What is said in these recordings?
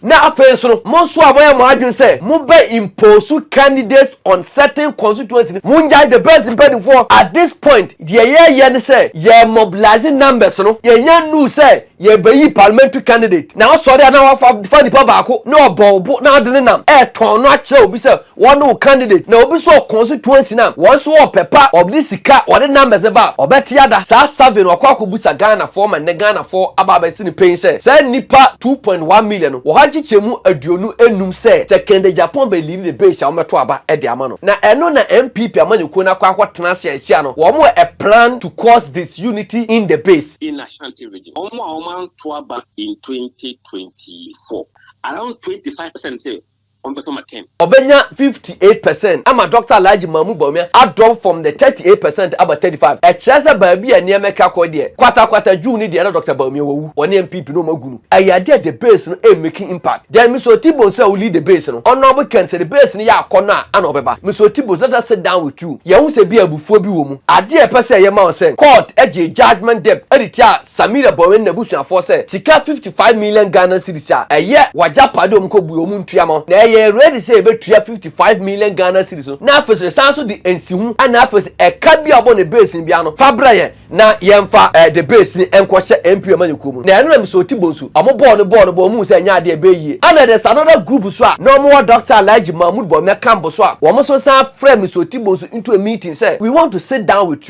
Na afei nso no, mo nso a moayɛ mo adwene sɛ mobɛ impose candidates on certain constituency no, mongyae the best mpaninfoɔ at this point deɛ yɛɛyɛ ne sɛ yɛ mobilise numbers no, yɛnnya nnuu sɛ yɛɛbɛyi parliamentary candidate na wasɔre a na wafa fa nipa baako na ɔbɔ wo bo na wode ne nam ɛɛtɔn no akyerɛ obi sɛ Wɔne wo candidate na obi so ɔkoo so tuo nsi nam wɔn so wɔ pɛ pa ɔde sika ɔde numbers ne ba a ɔbɛte ada saa survey no wakɔ akɔ busa Ghana foɔ ma nnɛ Ghana foɔ aba abɛsi no panyin sɛ saa nnipa two point one million no wɔha nkyekyɛ mu aduonu nnum sɛ sɛ Kennedy Agyapong bɛ leadi the base a wɔbɛto aba de ama no na ɛno na NPP amanyɔkuo no akɔ akɔ tena ase a ɛsia no wɔn wɔ a plan to cause disunity in the base. in Ashanti region wɔn a wɔn anto aba in twenty twenty four around twenty five percent sɛ ɔmbɛfa ma Ken. Ɔbɛnya fifty eight percent ama Dɔkta Alhaji Mahmood Bawumia adrop from the thirty eight percent aba thirty five. Ɛkyerɛ sɛ baabi a nneɛma atwa kɔ deɛ, kwatakwata June ne deɛ na Dɔkta Bawumia wawu, wɔne NPP no wɔn agu no. Ɛyɛ adeɛ a the base no ɛmmeki impact. Then Mister Otibos a ɔlead the base no, Honourable Ken sɛ the base no yɛ akɔnnɔ a ana ɔbɛba. Mister Otibos let us sit down with you yɛnhu sɛ ebia abufuo bi wɔ mu. Adeɛ a yɛpɛ sɛ yɛma wo sɛ, court gyee judgement debt de tiaa Samira Bowen n'abusuafoɔ sɛ sika 55 million Ghana cedis a ɛyɛ w'agyapadeɛ a wɔkɔbue wɔn ntua mo na yɛyɛ ready sɛ yɛbɛtua 55 million Ghana cedis no na afei nso yɛsan nso de nsiho ɛna afei nso ɛka bi a wɔbɔ ne base no bi ano fa brɛ yɛn na yɛmfa eh, the base no nkɔ hyɛ MP amanyɔkuo mu na ɛno na mesɛ ɔti bonsu wɔn bɔɔ no bɔɔ no bɔ wɔn hu sɛ ɛnyɛ adeɛ ɛbɛyɛ yie ɛna there's another group nso a na wɔn wɔ Dr. Alhaji Mahmood Bawumia Kambo so a wɔn nso san frɛ mesɛ ɔti bonsu into a meeting sɛ we want to sit down with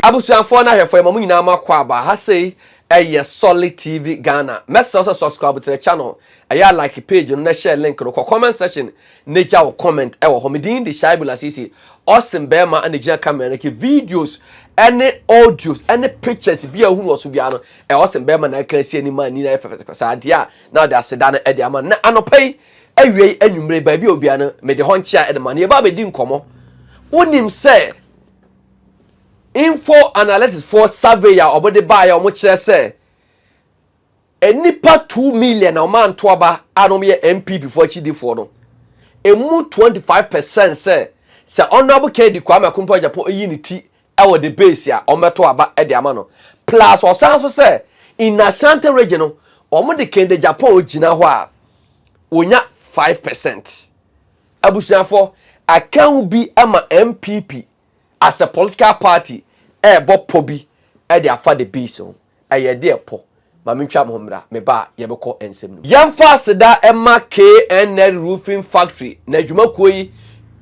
Abusuafoɔ no ahwɛfoɔ yɛma mo nyinaa mo akwaaba, ha sei yɛ Solid TV Ghana, mɛsrɛ wo sɛ subscribe to the channel, ɛyɛ a like page no na share link no, kɔ comment section na gya wo comment wɔ hɔ, me din de Shaibu Lasisi, Austin bɛɛma na gyina camera no akyi, videos ne audios ne pictures biara wohunu wɔ so biara no, ɛyɛ Austin bɛɛma na ɛka asi anim ma ani no ayɛ fɛfɛfɛ saa, deɛ a na ɔde aseda no de ama no, na anɔpa yi, Awiei anwummere, baabi a obia no, mede hɔ nkyea de ma no. Yɛba abedi nkɔmmɔ. Wonim sɛ info analytics foɔ survey a wɔde baeɛ a wɔkyerɛ sɛ nnipa two million a wɔanto aba a na wɔyɛ NPP foɔ akyidifoɔ no, emu twenty five percent sɛ sɛ Honourable Kennedy Kwame Akompɔ Agyapong yi ne ti ɛwɔ the base a wɔbɛto aba de ama no plus ɔsan nso sɛ in Asante region no wɔde Kende Japour gyina hɔ a wɔnya five percent abusuafo ɛka ho bi ma NPP as a political party ɛrebɔ pɔ bi de afa the base ho. Ɛyɛ deɛ pɔ. Ma me ntwa mo ho mmra, me ba a, yɛbɛkɔ nsɛm no mu. Yɛmfa aseda mma KNN Roofing Factory na adwumakuo yi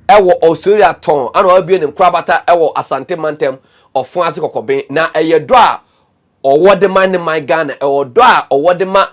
wɔ Osoria tɔn ana wabue ne nkorabata wɔ Asante mantam Ɔfon ase Kɔkɔben na ɛyɛ dɔ a ɔwɔ de ma ne man Ghana ɛwɔ dɔ a ɔwɔ de ma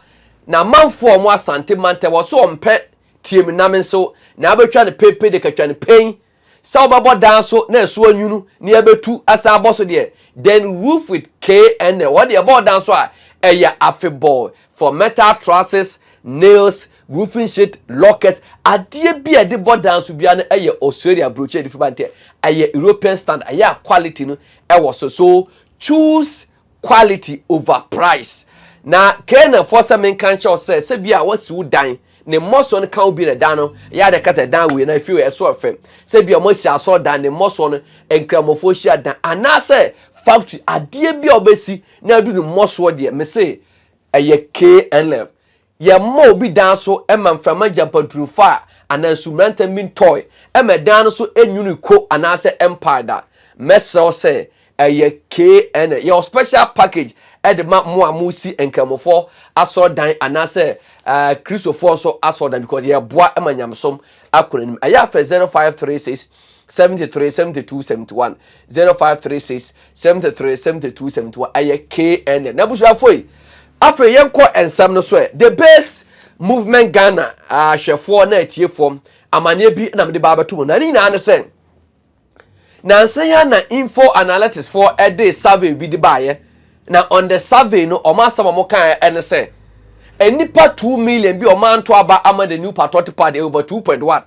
namanfoɔ a ɔmo Asante mantam ɔse ɔmpɛ tie me na me nso na abɛtwa no pepe de katwa no pain sɛ wɔbɛbɔ dan so na ɛso anwunu na yɛbɛtu asan abɔ so deɛ, then roof with KNL. Wɔde ɛbɔɔ dan so a, ɛyɛ afebɔɔ for metal trusses, nails, roofing sheet, lockers. Adeɛ bi a yɛde bɔ dan so biara no yɛ Australia brochure a yɛde fi ba no nti, ɛyɛ European standard, ɛyɛ a quality no wɔ so. So choose quality over price. Na Canaan foɔ sɛ menka nkyɛ wo sɛ sɛ bi a wɔasi wo dan ne mmɔsoɔ no ka wo bi na dan no ɛyɛ ade kata dan wei na efi ɛso ɛfɛ sɛ bi a wɔasi asɔ dan ne mmɔsoɔ no nkramofoɔ hyia dan anaasɛ factory adeɛ bi a wɔbɛsi na adu ne mmɔsoɔ deɛ mese ɛyɛ KNF Yɛmma obi dan so mma mframa ngya mpanturu mfaa anaa nsu mmrantɛm bi ntɔe mma ɛdan no so nnwiri ko anaasɛ ɛmpae da. Mɛsrɛ wo sɛ ɛyɛ kna yɛwɔ special package de ma mo a moresi Nkramofoɔ asɔrdan anaasɛ Kristofoɔ nso asɔrdan because yɛboa ma nyamesom akɔ n'anim. Ɛyɛ a frɛ 0536 seventy three seventy two seventy one zero five three six seventy three seventy two seventy one ɛyɛ kn n'abusuafo yi afei yɛn kɔ nsɛm no so ɛ the base movement ghana ahwɛfoɔ na atiefoɔ amaneɛ bi na mede ba abɛto mu na ne nyinaa ne sɛ nansa yi na info analytics foɔ ɛde survey bi de baayɛ na on the survey no wɔn asɛm a wɔn kan ɛne sɛ nnipa two million bi a wɔn anto aba ama the new patriotic party over two point one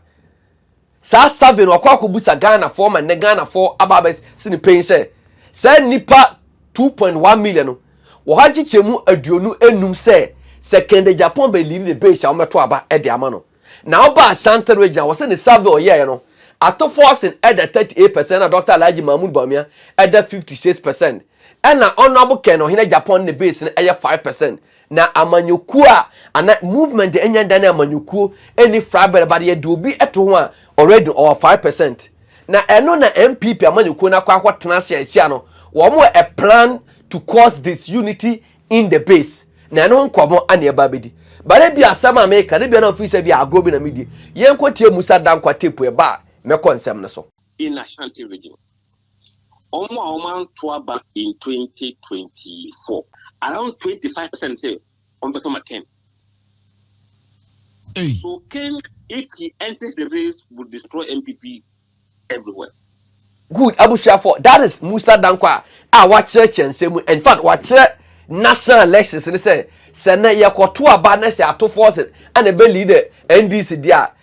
Saa survey no wakɔ akɔbusa Ghanafoɔ ma nnɛ Ghanafoɔ aba abɛsi no pain sɛ saa nnipa two point one million no wɔ hɔ akyekyɛ mu aduonu nnum sɛ sɛ Kennedy Agyapong bɛliidi ne base a wɔbɛto aba de ama no. Na ɔba Ashanti region a wɔsɛ ne survey a ɔyɛeɛ no ato Forson da thirty eight percent ɛna Dɔkta Alhaji Mahmood Bawumia da fifty six percent ɛna Honourable Ken Ɔhene Agyapong ne ne base no yɛ five percent. Na amanyɔkuo a ana movement anya da ne amanyɔkuo ɛni frabɛrɛ ba deɛ de obi ɛto ho a already ɔwɔ five percent na ɛno na NPP amanyɔkuo no akɔ akɔ tena ase a ɛsi ano wɔn wɔ a plan to cause this unity in the base na ɛno ho nkɔmɔ ana ɛba abɛdi bare bi asɛm a meka ne bia na ofiri sɛ bi agorɔ bi na medie yɛn kɔ tie Musa Dankwa tape ɛba a mɛkɔ nsɛm no so. in Ashanti region. wɔn a wɔn anto aba in 2024 around 25 percent say wɔn bɛ fama ken hey. so ken if he enters the race will destroy npp everywhere. good abusuafo that is musa danko a a wakyerɛkyerɛ nsɛm mu in fact wakyerɛ national elections ne sɛ sɛ na yɛkɔto aba na sɛ atofo ɔsɛ ɛna ɛbɛ leader ndc deɛ a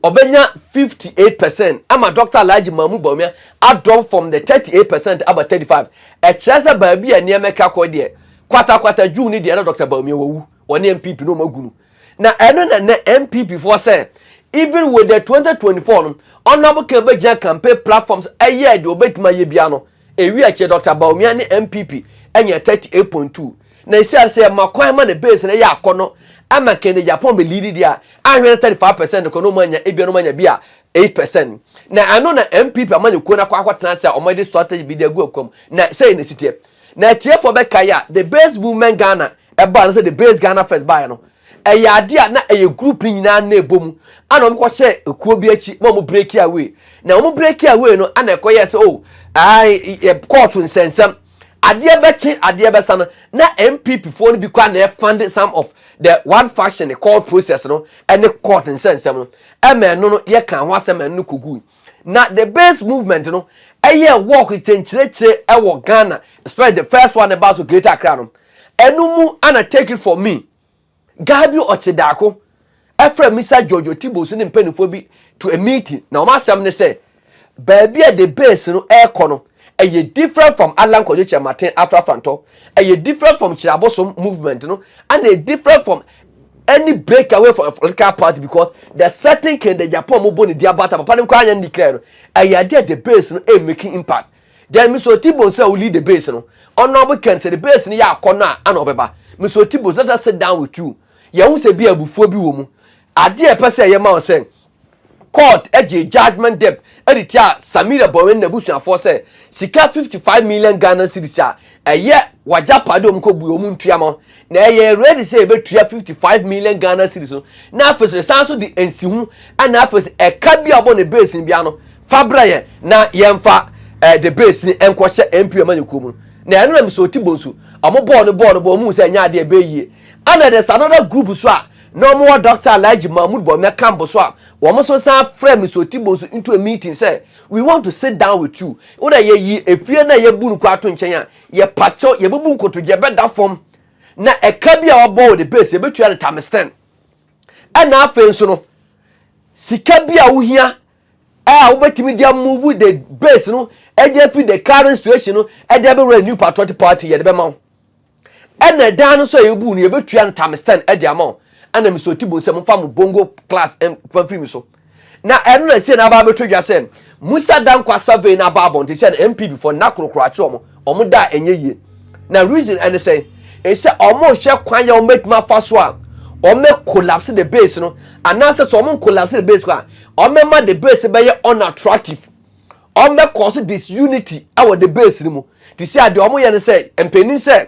Ɔbɛnya fifty eight percent ama Dɔkta Alhaji Mahmood Bawumia adrop from the thirty eight percent aba thirty five. Ɛkyerɛ sɛ baabi a nneɛma ɛka kɔ deɛ, kwatakwata June no deɛ na Dɔkta Bawumia wawu, ɔne NPP na wɔagu no. Na ɛno na ɛnɛ NPP foɔ sɛ even with the twenty twenty four no, Honourable Khan bɛgyina campaign platform so ɛyɛɛ deɛ ɔbɛtumi ayɛ biara no, Ewie akyiri Dɔkta Bawumia ne NPP nyaa thirty eight point two na esiane sɛ yɛma kwan ma ne base no ɛyɛ akɔnɔ ama Kennedy Agyapong bɛ leadi deɛ a ahwɛ no thirty five percent no kɔ na wɔn anya ebia na wɔn anya bi a eight percent na ɛno na NPP amanyɔkuo no akɔ akɔtena ase a wɔn de strategy bi de agu akwa mu na sɛi na esiteɛ na atiefoɔ bɛkae a the base movement Ghana ɛbaa no sɛ the base Ghana first baeɛ no Ɛyɛ ade a na ɛyɛ group no nyinaa na ɛbɔ mu ana wɔn kɔ hyɛɛ ekuo bi akyi na wɔn breaki away na wɔn breaki away no ana ɛkɔ yɛɛ sɛ oh ae yɛ kɔɔto nsɛnsɛm adeɛ bɛkye adeɛ bɛsa no na npp foɔ no bi kɔ ana ɛfande some of the one faction court process no ɛne court nsɛnsɛm no ɛma ɛno no yɛka ho asɛm ɛno no kɔgui Na the base movement no ɛyɛ work kyenkyerɛkyerɛ ɛwɔ Ghana especially the first one ɛbaa so Greater Accra no ɛno mu ana take it for me guy bi ɔkye daako ɛfrɛ Mr Jojo Tibo so ne mpanimfoɔ bi to a meeting na wɔn asɛm ne sɛ baabi a the base no ɛrekɔ no Ɛyɛ different from Allan Kwaju Kyerematen afrafrantɔ, ɛyɛ different from Kyerɛ Abosom movement no, ɛna ɛyɛ different from any break away from a political party because the certain Kennedy Agyapong a wɔbɔ ne di abata papa no nkɔ anyɛ ne declare no, ɛyɛ adeɛ a the base no ɛyɛ making impact. Then Mr. Otibo nso a wo lead the base no, Honourable Ken sɛ the base no yɛ akɔ no a ɛna ɔbɛba. Mr. Otibo let us sit down with you, yɛhu sɛ bi a abufuo bi wɔ mu. Adeɛ a ɛpɛ sɛ ɛyɛ ma wo sɛ, Court gyee judgement debt de tiaa Samira Bowen n'abusuafoɔ sɛ sika 55 million Ghana cedis a ɛyɛ w'agyapade a wɔkɔbue wɔn ntua ma na ɛyɛɛ ready sɛ yɛbɛtua 55 million Ghana cedis no na afei nso yɛsan nso de nsiho na afei nso ɛka bi a wɔbɔ no base no biara no fa brɛ yɛn na yɛmfa eh, the base no nkɔhyɛ MP amanyɔkuo mu no na ɛno na mesɛ ɔti bɔ nsu wɔn bɔɔ no bɔɔ no bɔɔ wɔn mu sɛ ɛnyɛ adeɛ ɛbɛyɛ yie ɛna there's another group nso a Na wɔn wɔ Doctor Alhaji Mahmood Bawumia Kambo so a wɔn nso san frɛ me Sotibo nso into a meeting sɛ we want to sit down with you. Wo dɛ yɛ yi efie na yɛ bu no kɔ ato nkyɛn a yɛ pa kyɛw yɛ bɛ bu nkotodwe yɛ bɛ da fam na ɛka bi a ɔbɔ wɔ the base yɛ bɛ tua no times ten. Ɛna afei nso no sika bi a wo hia a wo bɛ tumi de move the base no ɛde afi the current situation no ɛde ɛbɛ wura new patriotic party yɛ de bɛ ma wo. Ɛna ɛdaa no nso a yɛbuu no yɛbɛtua ntame stand de ama wɔn ɛna Mr Otibu sɛ momfa mo bongo class mfa mfiri me so na ɛno na ɛsɛ na aba abɛtɔ dwa sɛ Musa Dankwa survey na aba abɔnten sɛ na MPB fɔ nna korokoro akye wɔn wɔn da a ɛnyɛ yie na reason ɛne sɛ ɛsɛ wɔn hyɛ kwan yɛ wɔn bɛtumi afa so a wɔn bɛ collapse the base no anaasɛ sɛ wɔn collapse the base kɔ a wɔn bɛma the base bɛyɛ unattractive Ɔbɛ cause disunity wɔ the base no mu te sɛ a deɛ ɔmo yɛ no sɛ mpanin sɛ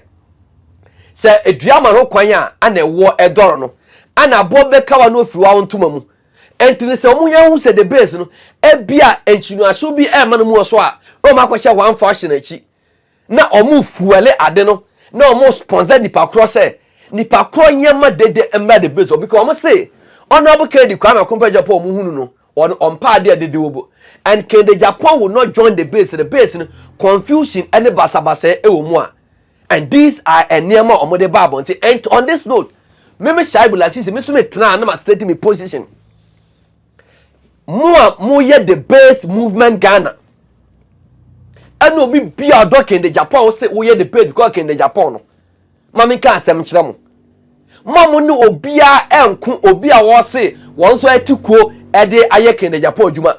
sɛ edua ma no kwan a ana ɛwoɔ ɛdɔre no ana aboɔ bɛka wa na ofiri wa wo ntoma mu ɛnti no sɛ ɔmo yɛ hu sɛ the base no ɛbi a nkyinoaso bi ɛma no mu wɔ so a na ɔmo akɔhyɛ one fashion akyi na ɔmo fuɛle ade no na ɔmo sponsor nipa korɔ sɛ nipa korɔ nyɛma dede mmra the base hɔ because ɔmo se honourable Kennedy Kwame Akompɛ Agyapong ɔmo hunu no ɔno ɔmpɛ adeɛ dede wɔ bo and Kennedy Agyapong will not join the base the base no confusion ɛne basabasɛɛ ɛwɔ mu a and these are ɛnneɛma a ɔmo de ba abɔnten and on this note meme Shaibu Lasisi me nso me tenaa na ma state me position. mo a moyɛ the base movement ghana ɛna obi bia ɔdɔ kende japan wo se woyɛ the base because kende japan no ma menka asɛm nkyerɛ mo mo a mo ne obiara ɛnko obi a wɔse wɔn nso ɛte kuo ɛde ayɛ kende japan adwuma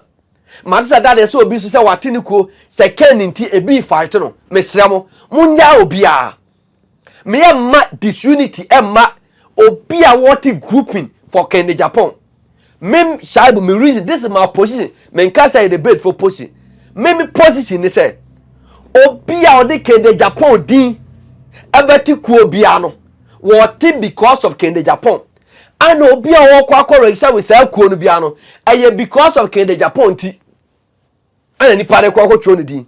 mate sɛ dade sɛ obi nso sɛ wate ne kuo sɛ kɛn nti ebi fight no mesrɛ mo monyɛ obiara Me yɛ mma disunity ɛmma obi a wɔte grouping for kɛnde japan me shaibu me reason this is my position me nka sɛ yɛde base for position me me position ne sɛ obi a ɔde kɛnde japan din ɛbɛte kuo biara no wɔte because of kɛnde japan ana obi a wɔkɔ akɔ register with saa kuo no biara no ɛyɛ because of kɛnde japan ti Ɛna nipa no kɔ akɔtwerɛ ne din.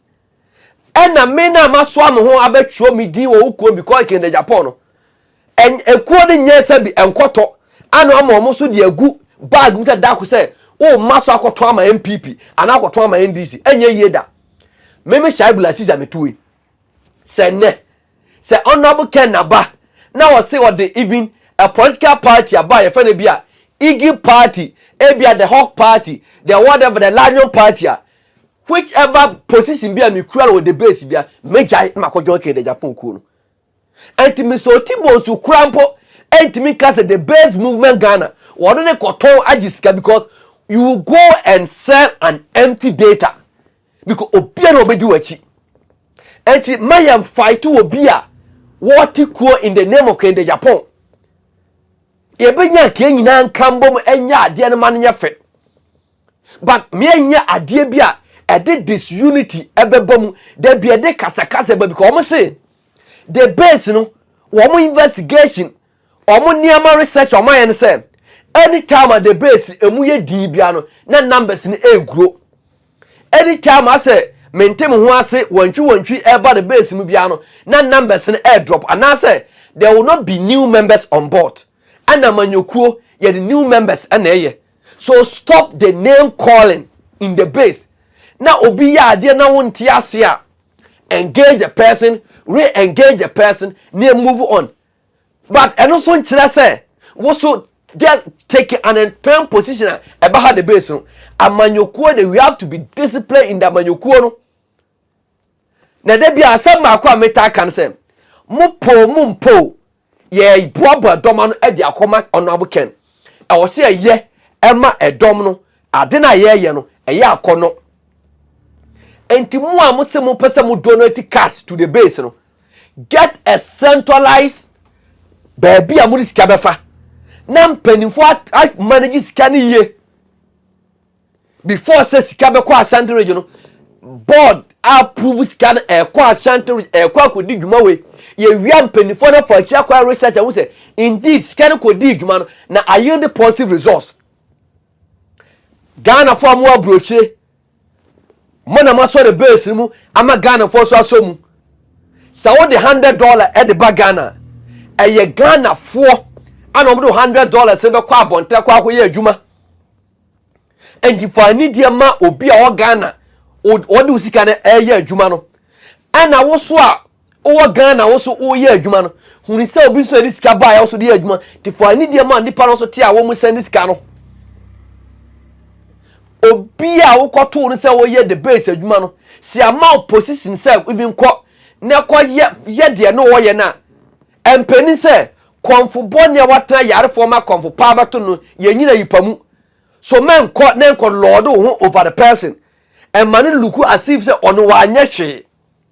Ɛna me na masoa me ho abɛtwerɛ me din wɔ wo kurom because Kennedy Agyapong no, ekuo no nyɛ sɛ bi nkɔtɔ ana ama wɔn nso de agu bag mu sɛ dako sɛ wo mma so akɔtɔn ama NPP anaa akɔtɔn ama NDC. Ɛnyɛ yie da. Me me Shaibu Lasisi a metuo yi. sɛ nnɛ sɛ honourable ken naba na ɔse ɔde even a political party aba a yɛfɛ no bi a iggy party ebi a the hawk party the whatever the lion party a which ever position bi a mekura no wɔ the base bi a megyae na makɔ join kɛdɛ japan kuo no ɛnti mesɛ ɔti bonsu kora mpo ɛntimi nka sɛ the base movement ghana wɔde ne kɔtɔn agye sika because you go and sell an empty data Because obiara obedi w'akyi. Enti ma yɛn fight wɔ bi a wɔte kuo in the name of kende Japan. Yɛbɛnya nka yɛn nyinaa nka mbom ɛnyɛ adeɛ no ma no nyɛ fɛ. But meɛnyɛ adeɛ bi a ɛde disunity ɛbɛba mu. Da bi ɛde kasakasa ba because wɔn se the base no wɔn investigation Wɔn nneɛma research a wɔn ayɛ no sɛ any time a the base emu yɛ dii bia no na numbers no ɛregro. Any time asɛ mente me ho ase wantwi wantwi ɛreba the base mu bia no na numbers no ɛredrop anaasɛ there will not be new members on board. Ɛna amanyɔkuo yɛde new members ɛna ɛyɛ. So stop the name calling in the base. Na obi yɛ adeɛ na wonte ase a engage the person, re-engage the person na move on. But ɛno nso nkyerɛ sɛ woso get taking an entire position a ɛba ha the base no amanyɔkuo de we have to be disciplined in the amanyɔkuo no na ɛda bi a asɛm baako a metaa ka no sɛ mo po mo mpo yɛboaboa dɔm ano de akɔma ɔnoabo kɛn ɛwɔ sɛ yɛyɛ ɛma ɛdɔm no Ade no a yɛyɛ no, ɛyɛ akɔnnɔ. Enti mo a mo se mo pɛ sɛ mo donate cash to the base no, get a centralized baabi a mo de sika bɛfa na mpanyinfo a manage sika no yie before sɛ sika bɛkɔ Ashanti region no board approve sika no ɛkɔ Ashanti region ɛkɔ akɔdi dwuma wei yɛwia mpanyinfoɔ no afa akyi akɔyɛ research ahu sɛ indeed sika no kɔdii dwuma no na ayield positive results ghanafoɔ a mowɔ aburokyire mo na moasɔ ne base no mu ama ghanafoɔ so asɔ mu sɛ wode hundred dollar ɛde ba ghana ɛyɛ ghanafoɔ ana wɔde hundred dollars no bɛkɔ abɔnten kɔ akɔyɛ adwuma nti fa anidie ma obi a ɔwɔ ghana ɔde wo sika no ɛyɛ adwuma no ɛna wo so a Wowɔ Ghana wo so woyɛ adwuma no, hunu sɛ obi nso de sika baeɛ wo so de yɛ adwuma nti fa ani deɛ ma nnipa no nso te a wɔn sɛn ne sika no. Obi a wokɔtoo no sɛ wɔyɛ the base adwuma no, si ama wo position sɛ even kɔ na kɔ yɛ yɛ deɛ na wɔyɛ no a, ɛmpɛni sɛ kɔmfo bɔne a watena yarefoɔ ma kɔmfo paa bɛto no yɛnyina yipa mu. So mɛnkɔ na nkɔ lord wo ho over the person ɛma no luku as if sɛ ɔno wanyɛ hwee.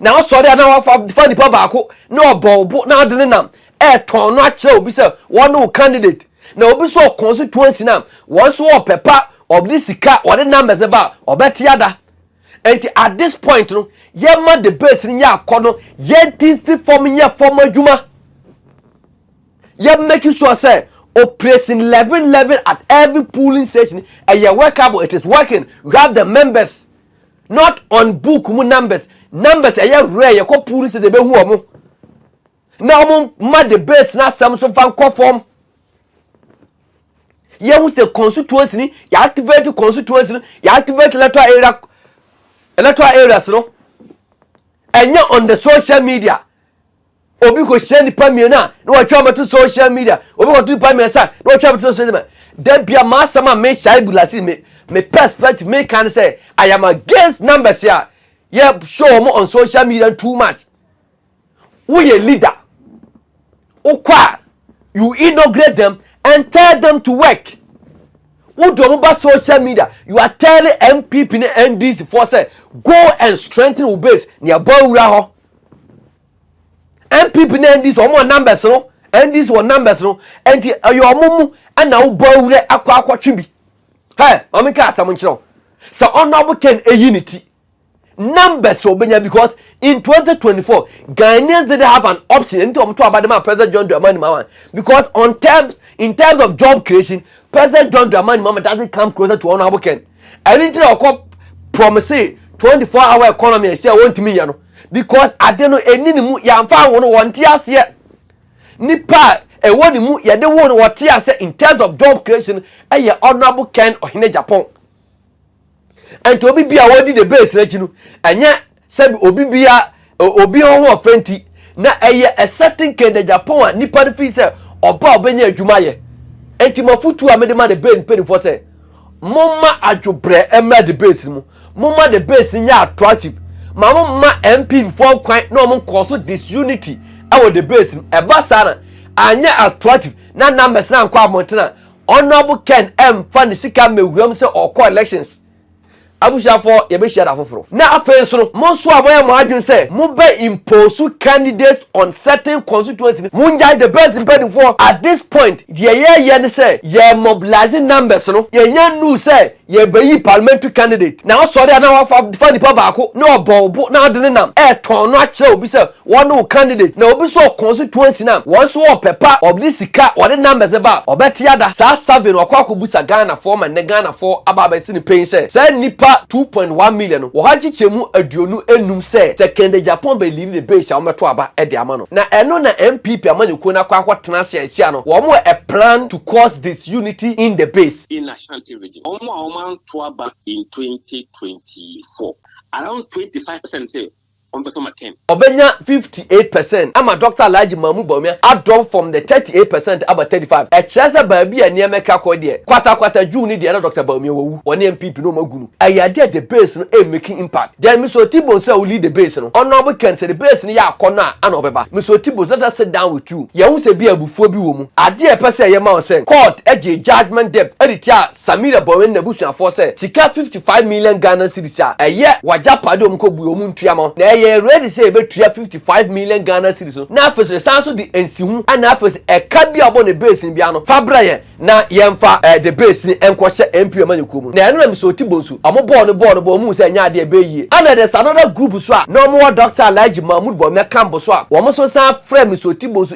Na wasɔre a na wafa fa nipa baako na ɔbɔ wo bo na ɔde ne nam ɛretɔn no akyerɛ obi sɛ wɔn ne wo candidate na obi nso ɔkɔn so tuo nsi na wɔn nso wɔpɛ pa ɔde sika ɔde numbers ne ba ɔbɛte ada nti at this point no yɛma debate no yɛ akɔ no yɛnti nsi fam nyɛ fam adwuma yɛ make sure sɛ operation eleven eleven at every polling station ɛyɛ workable it is working we have the members. Not on book mu numbers numbers ɛyɛ rare yɛkɔ polling station ebehu wɔn na wɔn ma debates na asɛm so fa nkɔ fam yɛhu sɛ constituency ni yɛ activate constituency no yɛ activate electoral area electoral areas no ɛnyɛ on the social media Obi kɔ hyia nipa mmienu a na wɔatwa abɛto social media. Obi kɔto nipa mmiɛnsa a na wɔatwa abɛto social media. Da bia m'asɛm a me hyɛ bu lase me me perspective me kan sɛ I am against numbers a yɛ show wɔn on social media too much. Woyɛ leader. Wokɔ a you inaugurate them and tell them to work. Wode wɔn ba social media you are telling NPP ne NDC for sɛ go and strengthen wo base nea bɔ awura hɔ. NPP ne NDC wɔn wɔ numbers no NDC wɔ numbers no nti ɛyɛ wɔn mu ɛna wobɔ awurɛ akɔ akɔtwe bi hɛ maame nka asɛm nkyerɛ wo sɛ ɔnɔbo ken eyi ne ti numbers obenya because in 2024 Ghanaians didn't have an option nti wɔn to abadema President John Dramani Mahama because on terms in terms of job creation President John Dramani Mahama doesn't come closer to ɔnɔbo ken ɛni ti na ɔkɔ promise 24 hour economy ɛsɛ wɔntumi yɛ no. Because ade no ɛnni ne mu, yɛamfa anwo no, wɔnte aseɛ. Nipa a ɛwɔ ne mu, yɛde wo no, wɔte aseɛ. In terms of job creation, ɛyɛ Honourable Ken Ɔhene Agyapong. Ɛnti obi bi a wɔdi the base no akyi no, ɛnyɛ sɛbi obi bi a obi ho ho ɔfɛ nti, na ɛyɛ a certain Ken Agyapong a nipa no fii sɛ ɔba a ɔbɛnya adwuma yɛ. Ɛnti mafotuo a mede ma the base mpanimfoɔ sɛ, Momma adwobrɛ mmra debate no mu. Momma debate no nyɛ attractive. Ma mo mma MP foɔ kwan na wɔn nkɔɔ so disunity ɛwɔ debate no. Ɛba saa na anyɛ attractive na numbers no ankɔ abɔnten a, Honourable Ken ɛmfa ne sika mmɛwura mu sɛ ɔrekɔ elections. Abusuafoɔ, yɛbɛhyia da foforo. Na afei nso no, mo nso a moayɛ mo adwene sɛ mobɛ impose candidates on certain constituency no, mongyae the best mpanimfoɔ. At this point, deɛ yɛreyɛ ne sɛ yɛre mobilise numbers no. Yɛnnya nnuu sɛ yɛrebɛyi parliamentary candidate na woasɔre a na woafa fa nipa baako na ɔbɔ wo bo na wode ne nam retɔn no akyerɛ obi sɛ Wɔn ne wo candidate na obi so ɔkɔn so tuo nsi na wɔn nso wɔ pɛ pa ɔde sika ɔde numbers ne ba a ɔbɛ te ada saa survey no wakɔ akɔ busa Ghana foɔ ma nnɛ Ghana foɔ aba abɛ si no pain sɛ saa nnipa two point one million no wɔha nkyekyɛ mu aduonu nnum sɛ sɛ Kennedy Agyapong bɛ leadi the base a wɔn bɛ to aba ɛde ama no na ɛno na NPP amanyɔkuo no akɔ akɔ tena ase a nsia no wɔn wɔ a plan to cause disunity in the base. in Ashanti region wɔn a wɔn anto aba in twenty twenty four around twenty five percent sɛ ɔmbɛfa ma Ken. Ɔbɛnya fifty eight percent ama Dɔkta Alhaji Mahmood Bawumia adrop from the thirty eight percent aba thirty five. Ɛkyerɛ sɛ baabi a nneɛma ɛka kɔ deɛ, kwatakwata June ne deɛ na Dɔkta Bawumia wawu, wɔne NPP no wɔn agu no. Ɛyɛ adeɛ a the base no ɛmmeki impact. Then Mister Otibon sɛ ɔlead the base no, Honourable Ken sɛ the base no yɛ akɔnnɔ a ana ɔbɛba. Mister Otibon let us sit down with you yɛnhu sɛ ebia abufuo bi wɔ mu. Adeɛ a yɛpɛ sɛ yɛma wo sɛ, court gyee judgement debt de tiaa Samira Bowen n'abusuafoɔ sɛ sika 55 million Ghana cedis a ɛyɛ w'agyapadeɛ a wɔkɔbue wɔn ntua mo na yɛyɛ ready sɛ yɛbɛtua 55 million Ghana cedis no na afei nso yɛsan nso de nsiho ɛna afei nso ɛka bi a wɔbɔ no base no biara no fa brɛ yɛn na yɛmfa eh, the base no nkɔhyɛ MP amanyɔkuo mu no na ɛno na mesɛ ɔti bonsu wɔn bɔɔ no bɔɔ no bɔ wɔn hu sɛ ɛnyɛ adeɛ ɛbɛyɛ yie ɛna there's another group so a na wɔn wɔ Dr. Alhaji Mahmood Bawumia Kambo so a wɔn nso san frɛ Mr. Ɔti bonsu